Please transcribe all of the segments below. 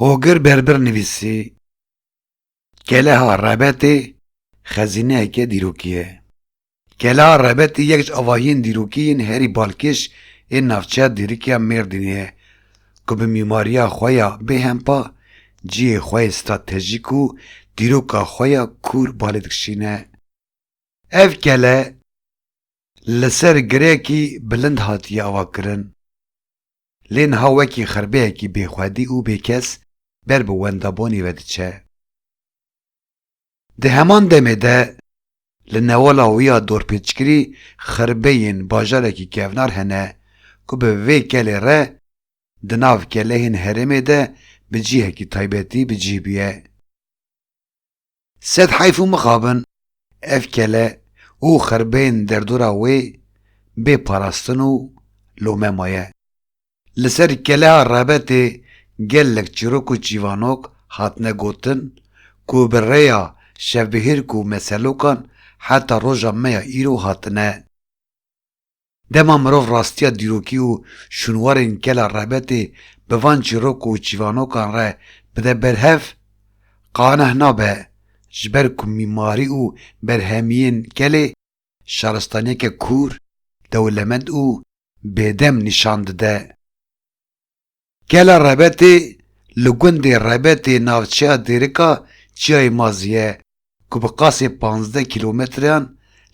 Hogir Berbir nivîsî, Keleha Rebetê xezîneyeke dîrokî ye. Keleha Rebetê yek ji avahiyên dîrokî yên herî balkêş ên navçeya dîrikiya Mêrdînê ye ku bi mîmariya xwe ya bêhempa cihê xwe yê stratejîk û dîroka xwe ya kûr balê dikişîne. Ev kele li ser girekî bilind hatiye avakirin. Lê niha wekî xirbeyekî bêxwedî û bêkes ber bi wendabonî ve diçe. Di heman demê de li newala wî ya dorpêçkirî xirbeyên bajarekî kevnar hene ku bi vê kelê re di nav kelehên herêmê de bi cihekî taybetî bi cih bûye. Sed heyf û mixabin ev kele û xerbeyên derdora wê bê parastin û lome maye. Li ser keleha rebetê gelek çîrok û çîvanok hatine gotin ku bi rêya şevbihêrk û meselokan heta roja me ya îro hatine. Dema mirov rastiya dîrokî û şûnwarên kela rebetê bi van çîrok û çîvanokan re bide ber hev, qaneh nabe, ji ber ku mîmarî û berhemiyên kelê şaristaniyeke kûr, dewlemend û bêdem nîşan dide. Kela Rebetê li gundê Rebetê navçeya Dêrika Çiyayê Mazî ye ku bi qasê pazdeh kîlometreyan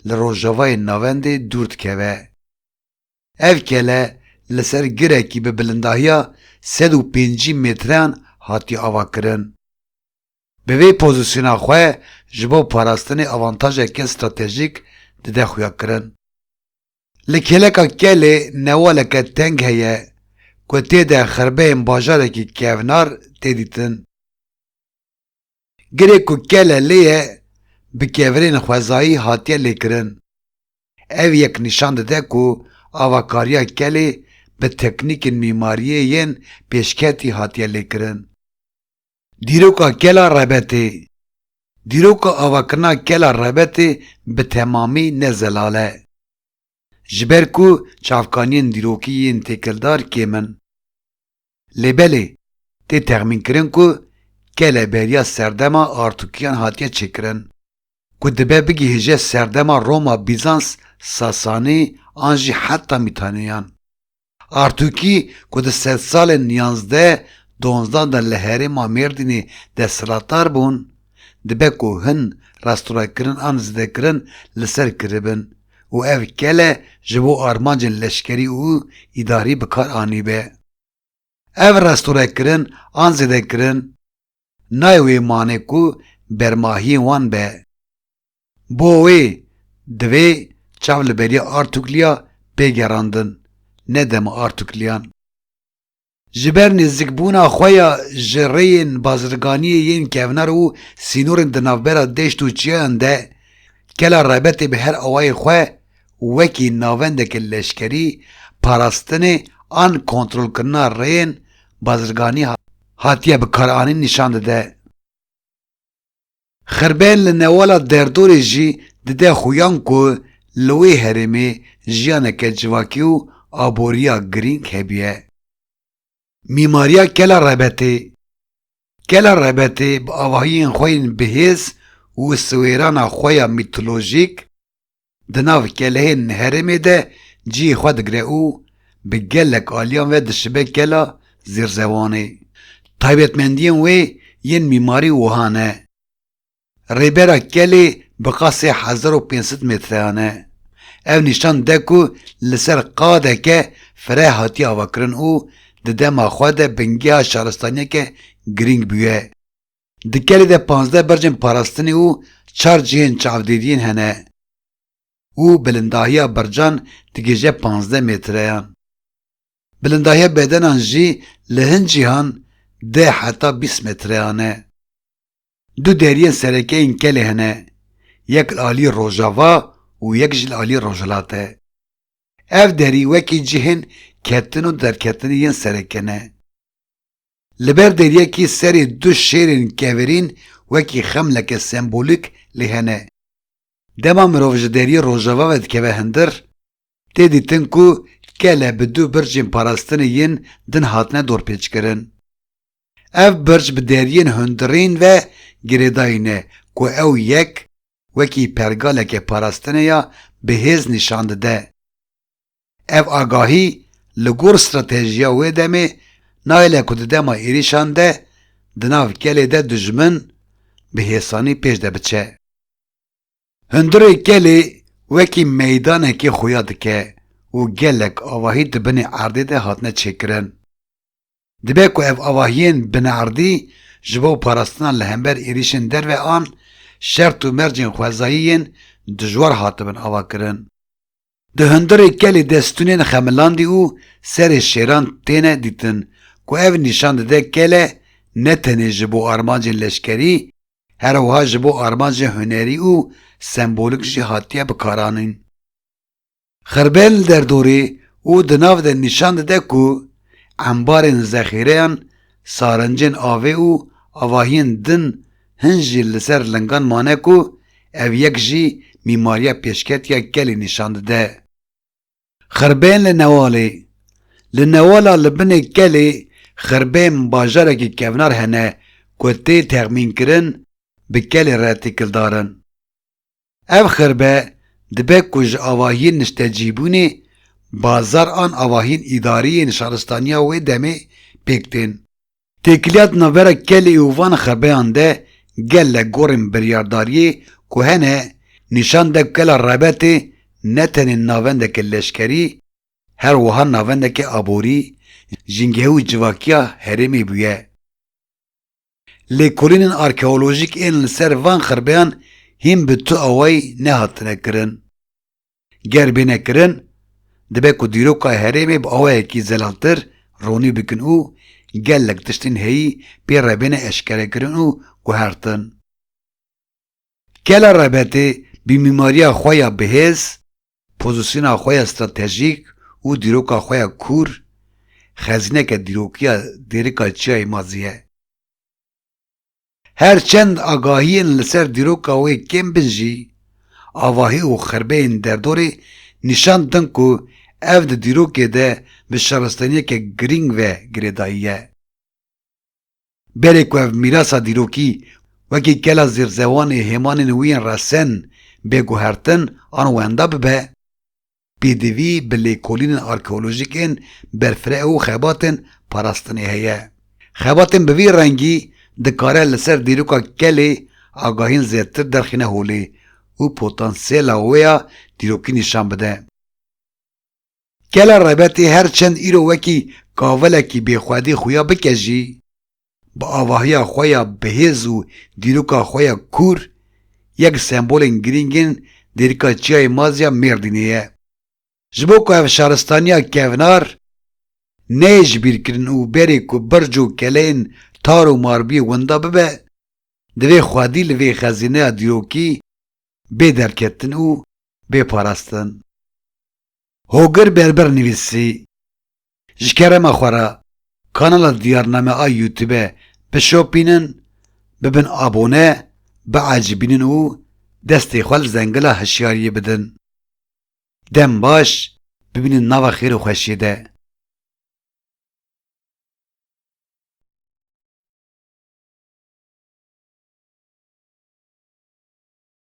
li rojavayê navendê dûr dikeve. Ev kele li ser girekî bi bilindahiya sed û pêncî metreyan hatiye avakirin. Bi vê pozîsyona xwe ji bo parastinê avantajeke stratejîk dide xuyakirin. Li kêleka Kelê newaleke teng heye ku tê de xirbeyên bajarekî kevnar tê dîtin. Girê ku kele lê ye bi kevirên xwezayî hatiye lêkirin. Ev yek nîşan dide ku avakariya kelê bi teknîkên mîmariyê yên pêşketî hatiye lêkirin. Dîroka Kela Rebetê Dîroka avakirina Kela Rebetê bi temamî ne zelal e. Ji ber ku çavkaniyên dîrokî yên têkildar kêm in. Lê belê tê texmînkirin ku kele beriya serdema Artûkiyan hatiye çêkirin ku dibe bigihêje serdema Roma-Bîzans-Sasanî an jî heta Mîtaneyan. Artûkî ku di sedsalên yazdeh donzdan de li herêma Mêrdînê desthilatdar bûn, dibe ku hin restorekirin an zidekirin li ser kiribin û ev kele ji bo armancên leşkerî û îdarî bikar anîbe. Ev restorekirin an zidekirin, nayê wê mane ku bermahiyên wan be. Bo wê divê çav li beriya Artukliya bê gerandin, ne dema Artukliyan. Ji ber nêzikbûna xwe ya ji rêyên bazirganiyê yên kevnar û sînorên di navbera deşt û çiyayan de, kela Rebetê bi her awayê xwe wekî navendeke leşkerî parastinê an kontrolkirina rêyên bazirganiyê hatine hatiye bikaranîn nîşan dide. Xirbel li newala derdorê jî dide xuyan ku li wê herêmê jiyaneke civakî û aboriya girîng hebûye. Mîmariya Kela Rebetê Kela Rebetê bi avahiyên xwe yên bihêz û siwêrana xwe ya mîtolojîk, Di nav kelehên herêmê de cihê xwe digire û bi gelek aliyan ve dişibe kela Zêrzewanê. Taybetmendiyên wê yên mîmarî wiha ne. Rêbera kelê bi qad sê hezar û pênc sed metreyan e. Ev nîşan de ku li ser qadeke fireh hatiye avakirin û di dema xwe de bingeha şaristaniyeke girîng bûye. Di kelê de pazdeh bercên parastinê û çar cihên çavdêdiyên hene û bilindahiya bercan digihêje pazdeh mêtreyan. Bilindahiya bedenan jî li hin cihan deh heta bîst mêtreyan e. Du deriyên sereke yên kelê hene, yek li aliyê rojava û yek jî li aliyê rojhilat e. Ev derî wekî cihên ketin û derketinê yên sereke ne. Li ber deryekî serê du şêrên kevirîn wekî xemleke sembolîk lê hene. Dema mirov ji deryê rojava ve dikeve hindir, tê dîtin ku kele bi du bircên parastinê yên din hatine dorpêçkirin. Ev birc bi deryên hundirîn ve girêdayî ne ku ew yek wekî pergaleke parastinê ya bi hêz nîşan dide. Ev agahî li gor stratejiya wê demê nayêle ku di dema êrîşan de di nav kelê de dijmin bi hêsanî pêş de biçe. Hundirê kelê wekî meydanekê xuya dike û gelek avahî di binê erdê de hatine çêkirin. Dibe ku ev avahiyên bineerdî ji bo parastina li hember êrîşên derve an şert û mercên xwezayî yên dijwar hatibin avakirin. Di hundirê kelê de stûnên xemilandî û serê şêran têne dîtin ku ev nîşan dide kele ne tenê ji bo armancên leşkerî her wiha ji bo armancên hunerî û sembolik jî hatiye bikaranîn. Xerbel li derdorê û di nav de nîşan dide ku embarên zexîreyan, sarincên avê û avahiyên din hin jî li ser lingan mane ku ev yek jî mîmariya pêşketiya gelê nîşan dide. Xerbeyên li Newalê Li Newala li binê kelê xerbeyên bajarekî kevnar hene ku tê texmînkirin bi kelê re têkildar in. Ev xirbe dibe ku ji avahiyên niştecîbûnê bazar an avahiyên îdarî yên şaristaniya wê demê pêk tên. Têkiliya di navbera kelê û van xirbeyan de gelek gorên biryardariyê ku hene nîşan de ku kela Rebetê ne tenê navendeke leşkerî her wiha navendeke aborî, jîngehê û civakiya herêmê bûye. Lêkolînên arkeolojîk ên li ser van xirbeyan hîn bi tu awayî nehatine kirin. Ger bêne kirin, dibe ku dîroka herêmê bi awayekî zelaltir ronî bikin û gelek tiştên heyî pê re bêne eşkerekirin û guhertin. Kela Rebetê bi mîmariya xwe ya bihêz, Pozîsyona xwe ya stratejîk û dîroka xwe ya kûr, xezîneke dîrokiya dêrika Çiyayê Mazî ye. Her çend agahiyên li ser dîroka wê kêm bin jî, avahî û xirbeyên derdorê nîşan didin ku ev di dîrokê de bi şaristaniyeke girîng ve girêdayî ye. Berê ku ev mîrasa dîrokî wekî kela zêrzewanê hêmanên wî yên resen bê guhertin an wenda bibe, pêdivî bi lêkolînên arkeolojîk ên berfireh û xebatên parastinê heye. Xebatên bi vî rengî dikare li ser dîroka kelê agahîn zêdtir derxîne holê û potansiyela wê ya dîrokî nîşan bide. Gela Rebetê her çend îro wekî kavilekî bêxwedî xuya bike jî, bi avahiya xwe ya bihêz û dîroka xwe ya kûr, yek sembolên girîng ên dêrika Çiyayê Maz ya Mêrdînê ye. Ji bo ku ev şaristaniya kevnar neyê ji bîr kirin û berê ku birc û keleyên tar û marbiyê winda bibe, divê xwedî li vê xezîneya dîrokî bê derketin û bê parastin. Hogir Berber nivîsî, Ji kerema xwe re kanala Diyarname a Youtube bişopînin, bibin abone, biecibînin û destê xwe li zengila hişyariyê bidin. Dem baş, bimînin nava xêr û xweşiyê de.